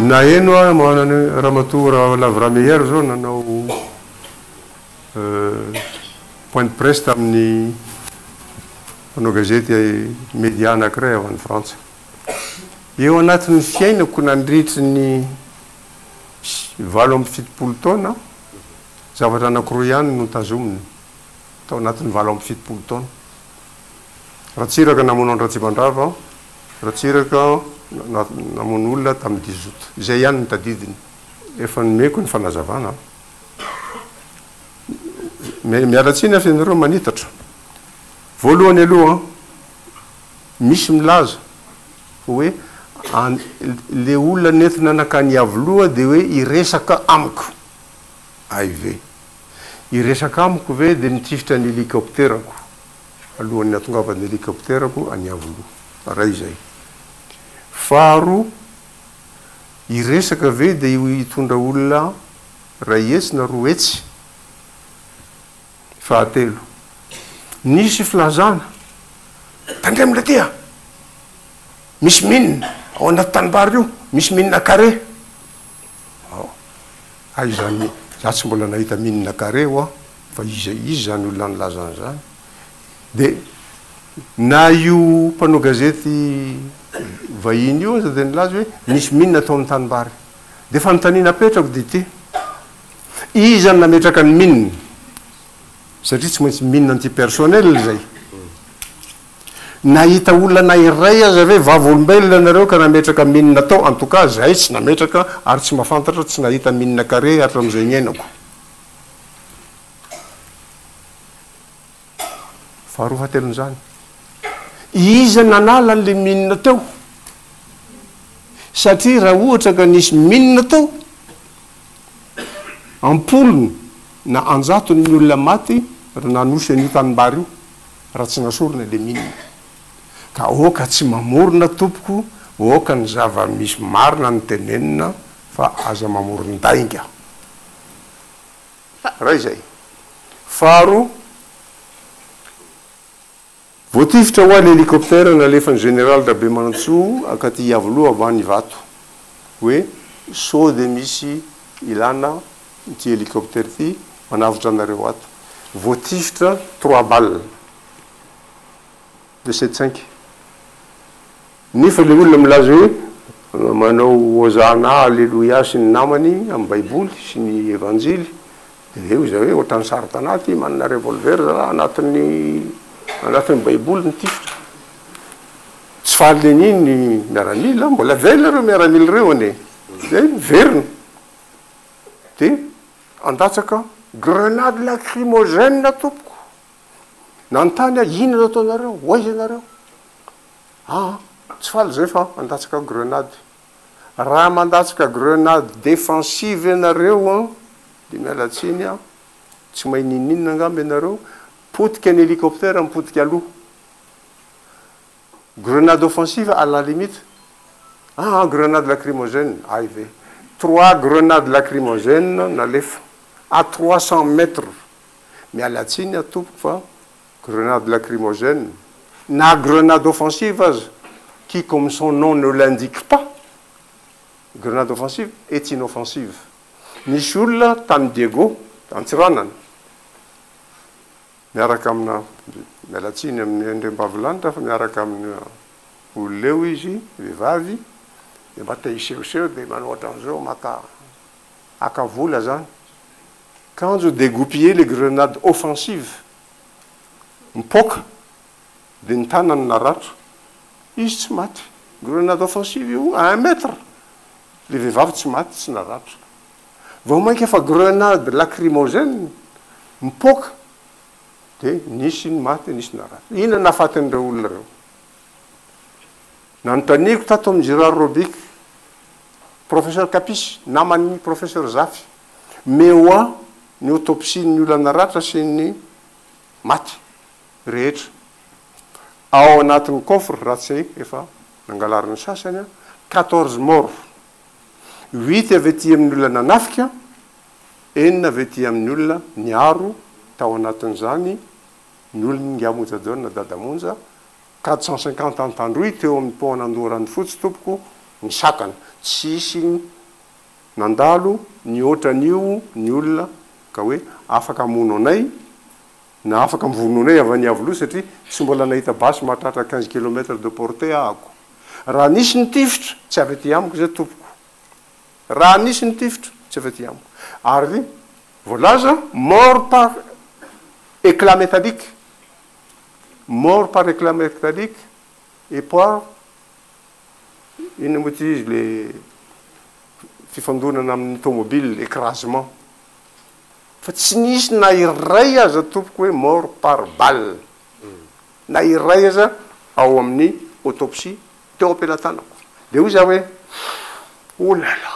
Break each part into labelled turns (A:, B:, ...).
A: Naheno aho manana Ramatoa Raolavira Meyer izao nanao point de presse tamin'ny mpanao gazety media anankiray avy any Frantsa. Eo anatin'ny fiainako nandritry ny sy valo amby fitopolo taona aho, zavatra anankiroa ihany no tazomina tao anatin'ny valo amby fitopolo taona. Ratsiraka namono an-dRatsimandrava aho, Ratsiraka namono olona tamin'ny dix-aout. Izay ihany no tadidiny. Efa nomeko ny fanazavana aho. Miala tsiny aho f'ianareo manitatra. Voalohany aloha, misy milaza hoe le olona nentina nakany Iavoloha de hoe hiresaka amiko ay ve? hiresaka amiko ve de nitifitra ny helicopterako alohan'ny hatongavan'ny helicopterako any Iavoloha ray zay faharoa hiresaka ve de hitondra olona ray hetsy na roa hetsy Fahatelo, nisy filazana, tandremo le dia misy mine ao anaty tanimbary io, misy mine carré ao, hay izany za tsy mbola nahita mine carré ho'a fa iza izy zany olona nilaza an'izany, de na io mpanao gazety vahiny io aza de nilaza hoe nisy mine tao amin'ny tanimbary, de fanontaniana apetrako de ity, Iza no nametraka ny mine? Satria tsy maintsy mine anti-personnel izay. Nahita olona na iray aza ve vavolombelona ianareo ka nametraka mine tao? En tout cas, izahay tsy nametraka ary tsy mahafantatra, tsy nahita mine carré hatramin'izay niainako. Faharoa fahatelon'izany, iza nanala an'ilay mine teo? Satria raha ohatra ka nisy mine tao, Am-polony na an-jatony ny olona maty raha nanosy an'io tanimbary io, raha tsy nasorina ilay mine. Ka aoka tsy mamorona tompoko, aoka ny zava-misy marina no tenenina fa aza mamoron-dainga. Iray izay. Faharoa. Voatifitra hoa le elikoptera nalefany Général Rabemanantsoa akaty Iavoloha ambany Ivato. Hoe sao de misy ilana ity elikoptera ity manavotra anareo ato. Voatifitra trois balles de cette cinq. Nefa le olona milaza hoe manao Hozana Aleloia sy ny namany amin'ny baiboly sy ny evanjily Dia hoy izay hoe, Ohatran'ny saro-tanà ity, manana revolver za anatin'ny anatin'ny baiboly ny tifitra. Tsy fahalen'ny ny miaramila, mbola velona ireo miaramila ireo anie. Dia miverina. Dia handatsaka grenade lacrymogène tompoko. Nanontany aho, inona no ataonareo? Ho aiza ianareo? Aa, tsy faly izay fa handatsaka grenade. Raha mandatsaka grenade defensive ianareo an, dia miala tsiny an, tsy mahay ninoninona angamba ianareo, potika ny hélicoptère mipotika aloha. Grenade offensive à la limite, ah grenade lacrymogène, hay ve. Trois grenades lacrymogènes nalefa à trois cents mètres, miala tsiny an tompoko fa. Grenade lacrymogène, na grenade offensive aza, qui comme son nom ne l'indique pas, grenade offensive est inoffensive. Nisy olona tany Diego, Antsiranana, miaraka amina, miala tsiny amin'i Andriambavilanitra fa miaraka amin'ny olona eo izy, vehivavy, dia mba te hisehoseho dia manao ohatran'izao maka, haka vola izany. Kanjo degoupiller le grenade offensive, mipoaka dia ny tanany naratra, izy tsy maty, grenade offensive io à un mètre, ilay vehivavy tsy maty tsy naratra, vao mainka fa grenade lacrymogène mipoaka dia nisy ny maty nisy naratra, inona no nahafatin'ireo olona ireo? Nanontaniako tato amin'i Gérard Robic, professeur Kapisy, naman'ny professeur Zafy, mais wa Ny autopsie ny olana ratra sy ny maty rehetra ao anatin'ny coffre raha tsy hay efa nangalarina ny sasany an, quatorze morts, huit avy aty amin'ny olona nanafika, enina avy aty amin'ny olona niaro tao anatin'izany ny olon'Ingahy Mojadona Dada Monja, quatre cent cinquante an-tandroy teo amin'ny pont an'Andoharanofotsy tompoko nisakana, tsy hisy Nandalo nihoatra an'io ny olona ka hoe afaka hamono anay na afaka mivono anay avy any Iavoloha satria tsy mbola nahita basy mahatratra quinze kilomètre de portée ahako. Raha nisy nitifitra, tsy avy aty amiko izay tompoko. Raha nisy nitifitra, tsy avy aty amiko. Ary voalaza mort par éclat métallique, mort par éclat métallique et par. inona moa ity izy le fifandonana amin'ny tomobile écrasement fa tsy nisy na iray aza tompoko hoe mort par balle na iray aza ao amin'ny autopsie teo am-pelatanako dia hoy za hoe oh là là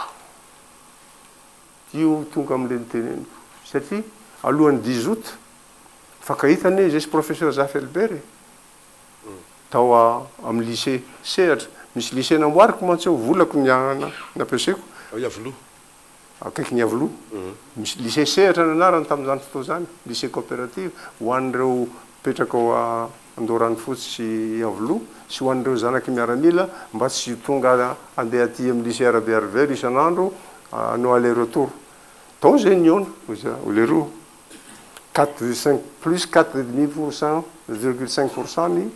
A: io tonga amin'ilay niteneniko satria alohan'ny 10 août fakahita anie izy sy professeur Zafy Albert e tao amin'ny lycée sehatra, misy lycée namboariko mantsy ao, volako ny anana nampiasaiko, ao Iavoloha,
B: akaikin'i
A: Iavoloha, misy lycée sehatra ny anarany tamin'izany fotoana izany, lycée coopérative, ho an'ireo mipetraka ao Andoharanofotsy sy Iavoloha sy ho an'ireo zanak'i miaramila mba tsy tonga handeha aty amin'ny lycée Arabe Harvey isan'andro hanao aller retour, tao izay nihaona, hoy leroa. quatre virgule cinq, plus quatre et demi pour cent, virgule cinq pour cent ny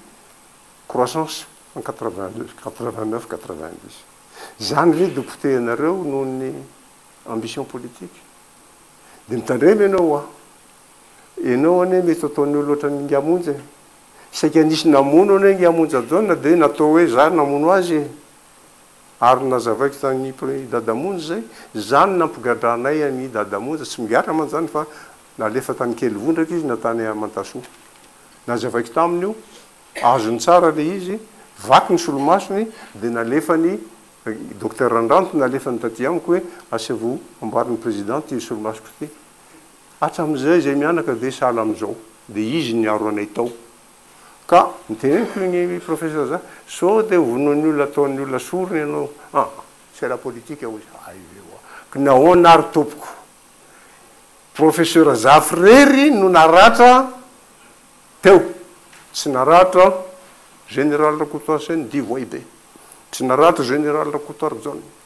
A: croissance en quatre vingt deux, quatre vingt neuf, quatre vingt dix. Izany ve dia potehinareo noho ny ambition politique? Dia mitandrema ianao hoa. Ianao anie mety ataon'ny olona ohatran'ny Ingahy Monja e. Saika nisy namono anie Ingahy Monja John dia natao hoe izaho namono azy e. Ary nozavaiko tany i dada monja izay, zany nampigadranay an i dada monja, tsy migadra mantsy zany fa nalefa tany kely vondraka izy na tany amantasoa. Nazavaiko taminy io, azony tsara le izy, vaky ny solomasony de nalefany, docteur Randranto nalefany taty amiko hoe asaivo amboary ny president ty solomasoko ty. Hatramizay zay mianaka de sahala amizao, de izy niaro anay tao. Ka noteneniko iny professeur za, sao dia hovonoin'ny olona ataon'ny olona sorona ianao. Ah! c'est la politique hoy izy. Hay ve ho'a. Ka nahoana ary tompoko? Professeur Zafy irery no naratra teo. Tsy naratra Général Rakotoarison, divoay be. Tsy naratra Général Rakotoarijaona.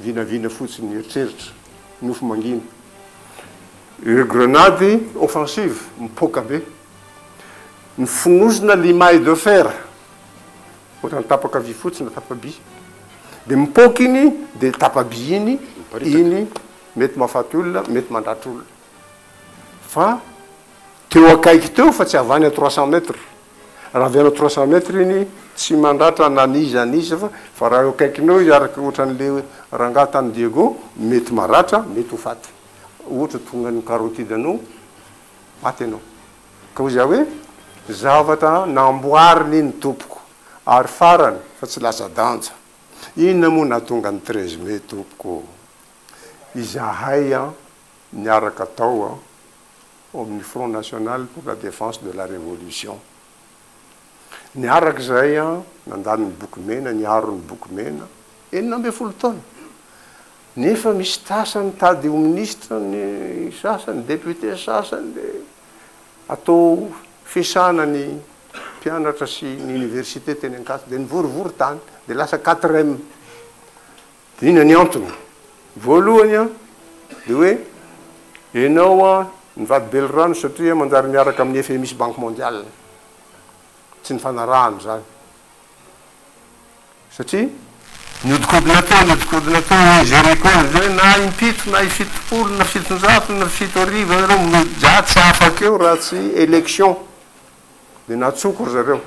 A: Vinavina fotsiny ny eritreritra. Nofy mangina. Ireo grenady offensive mipoaka be. Ny fonosina limaille de fer, ohatrany tapaka vy fotsiny na tapa-by. Dia mipoaka iny, dia tapa-by iny, iny mety mahafaty olona, mety mandratra olona. Fa teo akaiky teo fa tsy avy any à trois cents mètres. Raha avy any trois cent mètres iny tsy mandratra na ny iza ny iza fa fa raha eo akaikiny eo izy araka ohatran'le rangaha tany Diego mety maratra mety ho faty ohatra tonga ny carotide anao maty ianao ka hoy za hoe zavatra namboariny ny tompoko ary farany fa tsy lasa danja inona moa nahatonga ny treize mai tompoko izahay an niaraka tao an ao amin'ny Front National pour la Défense de la Révolution. Ny araka izay, nandany ny boky mena, niaro ny boky mena, enina ambin'ny folo taona. Nefa misy tasa nitady ho minisitra ny sasany, député sasany, dia atao fiasana ny mpianatra sy ny université teny Ankatso, dia nivorivory tany, dia lasa quatrem. Inona ny antony? Voalohany an, dia hoe ianao an, nivady belirano satria manjary miaraka amin'ny FMI sy Banque Mondiale. Tsy nifanarahana izany. Satria nihodikodina teo, nihodikodina teo, hoe gérer koa izy hoe na impito, na ifitopolo, na fitonjato, na fito arivo ianareo mody za tsy afaka eo raha tsy élection. Dia natsoko ry zareo.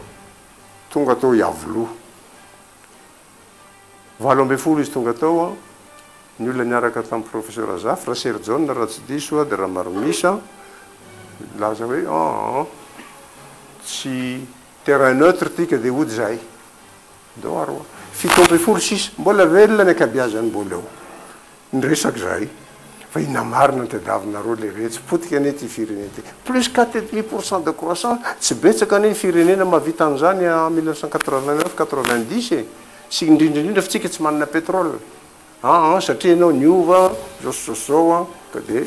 A: Tonga tao Iavoloha. Valo ambin'ny folo izy tonga tao an, ny olona niaraka tamin'i Professeur Zafy, Raserjaona raha tsy diso aho dia Ramaromisa, nilaza hoe an, tsy terrain neutre ity ka dia hody izahay. Doha roa, fito ambin'ny folo sisa, mbola velona ny ankabiazany mbola eo. Niresaka izahay fa inona marina no tadiavinareo le retsy, potika anie ity firenena ity. Plus quatre et demi pour cent de croissance, tsy betsaka anie ny firenena mahavita an'izany en mille neuf cent quatre-vingt-neuf, quatre-vingt-dix e! Sy indrindra indrindra fa tsika tsy manana pétrole an an satria ianao niova izao sy izao sy izao an ka dia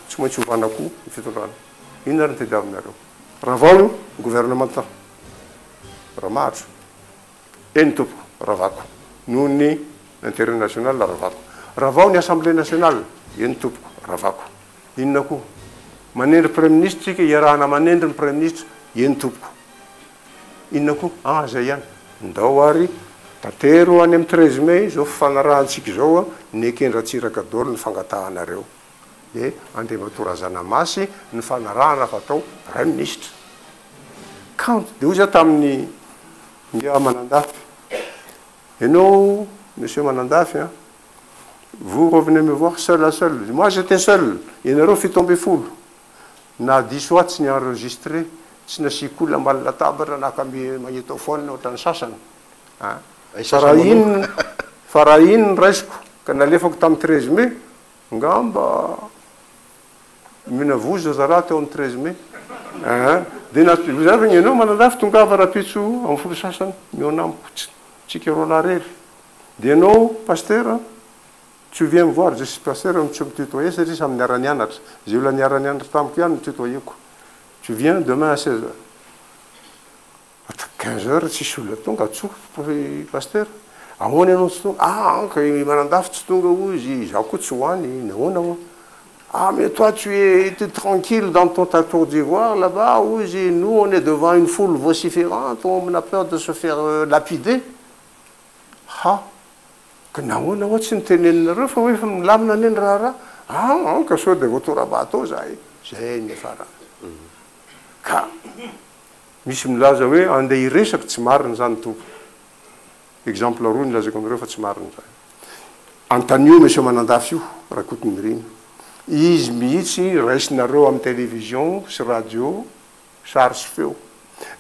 A: tsy maintsy ovana koa ny fitondrana. Inona ary no tadiavinareo? Ravao ny gouvernement Ramahatro. Eny tompoko, ravako. Noho ny interet national, ravako. Ravao ny assemblée nationale. Eny tompoko, ravako. Inona koa? Manendry praiminisitra isika, iarahana manendry ny praiminisitra. Eny tompoko. Inona koa? Ah, izay ihany. Ndao ary tantero any amin'ny treize mai izao fifanarahantsika izao, ny eken-dRatsiraka daholo ny fangatahanareo. dia Andriamatoa Razanamasy ny fanarahana fa atao Praiminisitra. Kanto be hoy za tamin'ny Ndry Manandafy, ianao Monsieur Manandafy an, vous revenez me voir seul à seul, moi j'étais seul, ianareo fito ambin'ny folo, na diso ahy tsy ni-enregistrer, tsy nasiako olona ambany latabatra naka magnétophone ohatran'ny sasany an, fa raha iny, fa raha iny ny raisiko ka nalefako tamin'ny treize mai, Ngamba omena vozo zara teo amin'ny treize mai ah dia na zay fa enao Manandafy tongava rapitso amin'ny folo sasany mihaona amiko tsika roa lahy rery dia enao Pastera tsy ovia ny voary zay Pastera no tsy mi tutoyer satria samy niara nianatra zay olona niara nianatra tamiko ihany no tutoyeko tsy ovia demain à seize heures. After quinze heures tsisy olona tonga, tsotra ry Pasteur, ahoana ianao tsy tonga, ah anka i Manandafy tsy tonga hoy izy, izaho koa tsy ho any, nahoana hoa, ah mais toi tu es tranquille dans ton ta tour d'ivoire là bas hoy izy, nous on est devant une foule vociferante, on a peur de se faire lapider, ha, ka nahoana hoa tsy noteneninareo fa hoe efa milamina anie ny raharaha, ah anka sao dia voatora-bato ao izahay, izay niafarany, ka Misy milaza hoe andeha hiresaka, tsy marina izany tompoko. Exemple roa nilazako anareo fa tsy marina izany. Antanio Monsieur Manandafy io, Rakotonirina. Izy mihitsy raisinareo amin'ny television sy radio sary sy feo.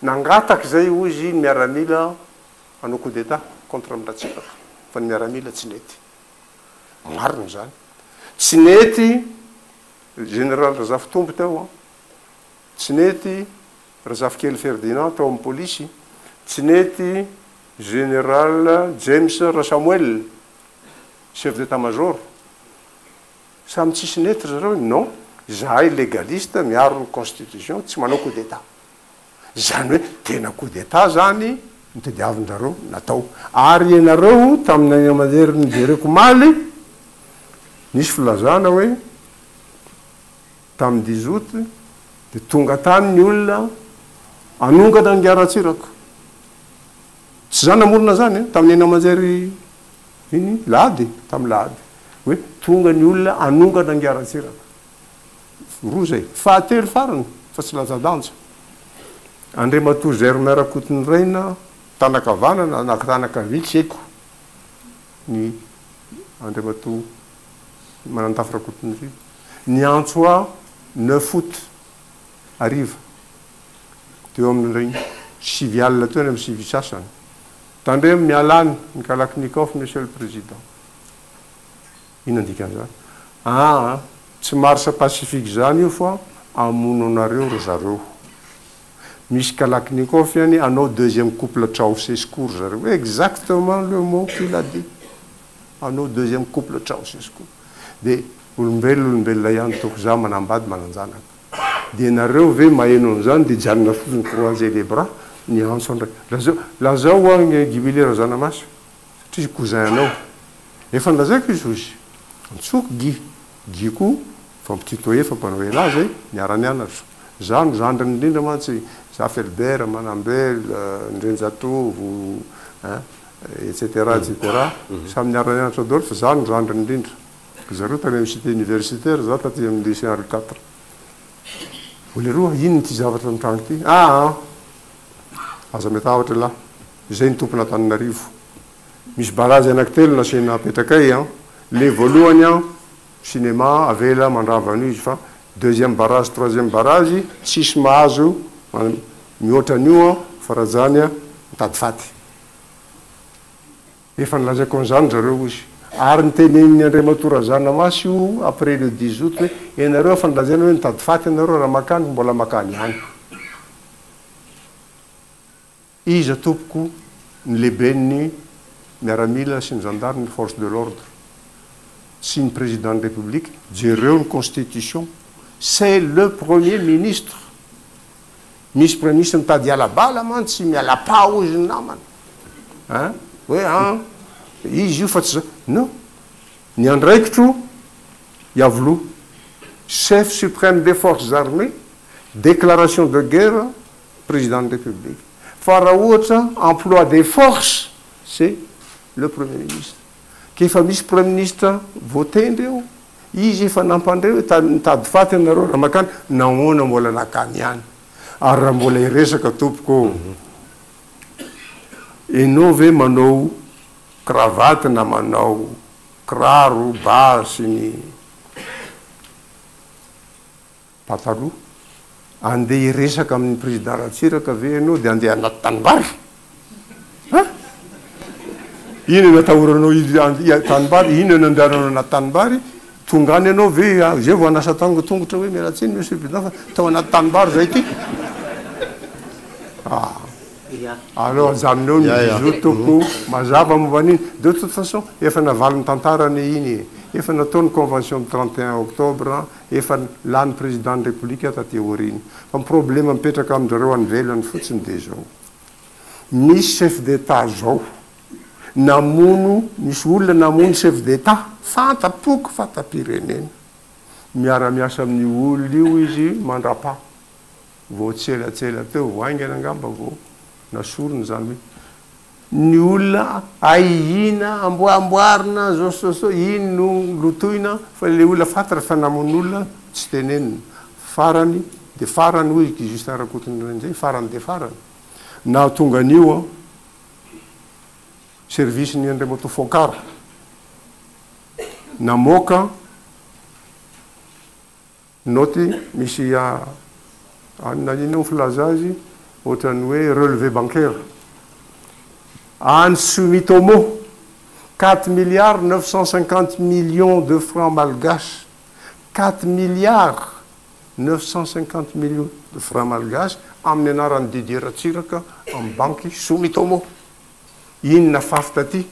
A: Nangataka izay hoy izy ny miaramila hanao coup d'Etat contre an'i Ratsiraka fa ny miaramila tsy nety. Marina izany. Tsy nety Général Razafitombo teo an. Tsy nety Razafikely Ferdinand tao amin'ny polisy, tsy nety Général James Rasamoel Chef d'Etat Major. Samy tsisy nety ry zareo e! Non, izahay légaliste, miaro ny constitution, tsy manao coup d'Etat. Izany hoe tena coup d'Etat izany no tadiavin-dRareo natao. Ary ianareo tamin'ny any aman'herin'ny jereko omaly, nisy filazana hoe. Tamin'ny dix aout dia tonga tany ny olona hanongana an'i Ratsiraka. Tsy za namorona an'izany, tamin'ny haino aman-jery iny lahady, tamin'ny lahady, hoe tonga ny olona hanongana an'i Ratsiraka. Roa izay. Fahatelo farany, fa tsy lanjadanja, Andriamatoa Germain Rakotonirina, tanan-kavanana na tanan-kavia tsy haiko, ny Andriamatoa Manantafo Rakotonirina. Niantso aho neuf aout hariva, teo amin'ny sivy alina teo na amin'ny sivy sasany. Tandremo miala any ny Kalachnikov, Monsieur le Président. Inona ny dikan'izany? Aa, tsy marche pacifique izany io fa hamono anareo ry zareo. Misy Kalachnikov ihany, hanao deuxième couple Ceausescu ry zareo. Exactement le mot qu'il a dit. Hanao deuxième couple Ceausescu. Dia olombelona olombelona ihany toa za manambady mananjanaka dia nareo ve maheno an'izany dia hijanona fotsiny croiser les bras ny antso andray lazao lazao hoa ny gibily razanamasy satria cousin anao efa nilazaiko izy ho izy antsoiko guy guy koa fampititoa efa mpanao elah zay niara nianatra za no zandriny indrindra mantsy za felbert manambel ndrenjatovo hein Etc etc samy niara nianatra dolf za no zandriny indrindra ry zareo tany amin'ny cité universitaire za taty amin'ny lycée henri quatre o leroa inn ity zavatra mitranga ity aa aza metahotra elah izay ny tompon'antananarivo misy barazy anaky telo nasiana apetrakay an le voalohany an cinéma avela mandrava an'io izy fa deuxième barazy troisième barazy tsisy mahazo mihoatra an'io an farajany an mitady faty Efa nilazaiko an'izany ry zareo, hoy izy. Ary notenenin'i Andriamatoa Razanamasy io après le 10 aout hoe, ianareo efa nolazaina hoe mitady faty ianareo raha makany, mbola makany ihany. Iza tompoko ny lehiben'ny miaramila sy ny zandary ny force de l'ordre? Tsy ny président ny république, jereo ny constitution, c'est le premier ministre Misy premisy mitady hiala bala man tsy mialapà hozy ny namany a! hoe a! izy io fa tsy za! no! ny andraikitro iavlo chef supreme des forces armées declaration de guerre président ny république fa raha ohatra emploi des forces c'est le premier ministre. Ka efa misy praiminisitra voatendry eo, izy efa nampandre hoe tany mitady faty ianareo raha makany, nahoana mbola nakany ihany? Ary raha mbola hiresaka tompoko ô, enao ve manao kravaty na manao kiraro, ba sy ny. Pataloha. Andeha hiresaka amin'ny Président Ratsiraka ve ianao dia andeha anaty tanimbary? An? Inona no atahoranao hiditra tanimbary? Inona no andehananao anaty tanimbary? Tonga any ianao ve? Izay vao hanasa tongotra hoe miala tsiny Monsieur le Président fa tao anaty tanimbary izahay ity. Ah! Alors ajanonao ny bisous tompoko, mazava momba an'iny. De toute façon, efa navalin'ny tantara anie iny e. Efa natao ny convention ny 31 octobre. efa lany président ny république taty aoriana fa ny problème mipetraka amin-drareo any ivelany fotsiny dia izao misy chef d'état zao namono misy olona namono chef d'état fanta-poko fanta-pirenena miara-miasa amin'ny olona io izy mandrapa vao tsy elatsela teo vao haingana angamba vao nasorony izany hoe ny olona ahiana amboa amboarina zao sy zao iny no lotoina fa le olona faty refa namono olona tsy tenenina farany de farany hoy ky Justin Rakotonirindray farany de farany nahatonga an'io an service ny Andriamatoa Fonkara namoaka Naoty, Misy an na inona moa filaza azy, ohatran'ny hoe relevé bancaire any Sumitomo, quatre milliards neuf cent cinquante millions de francs malgaches, quatre milliards neuf cent cinquante millions de francs malgaches amin'ny anaran'i Didier Ratsiraka amin'ny banky Sumitomo. Inona faf taty?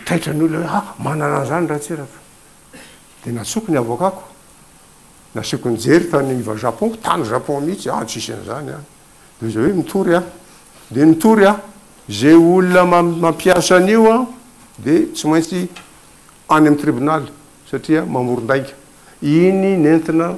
A: Taitra ny olona hoe ah manana an'izany Ratsiraka. Dia natsoko ny avoakako, nasiako nijery tany iva Japon, tany Japon mihitsy, any tsisy an'izany any. Dia izay hoe mitory aho, dia nitory aho. Izay olona mampiasa an'io dia tsy maintsy any amin'ny tribonaly satria mamoron-dainga. Iny nentina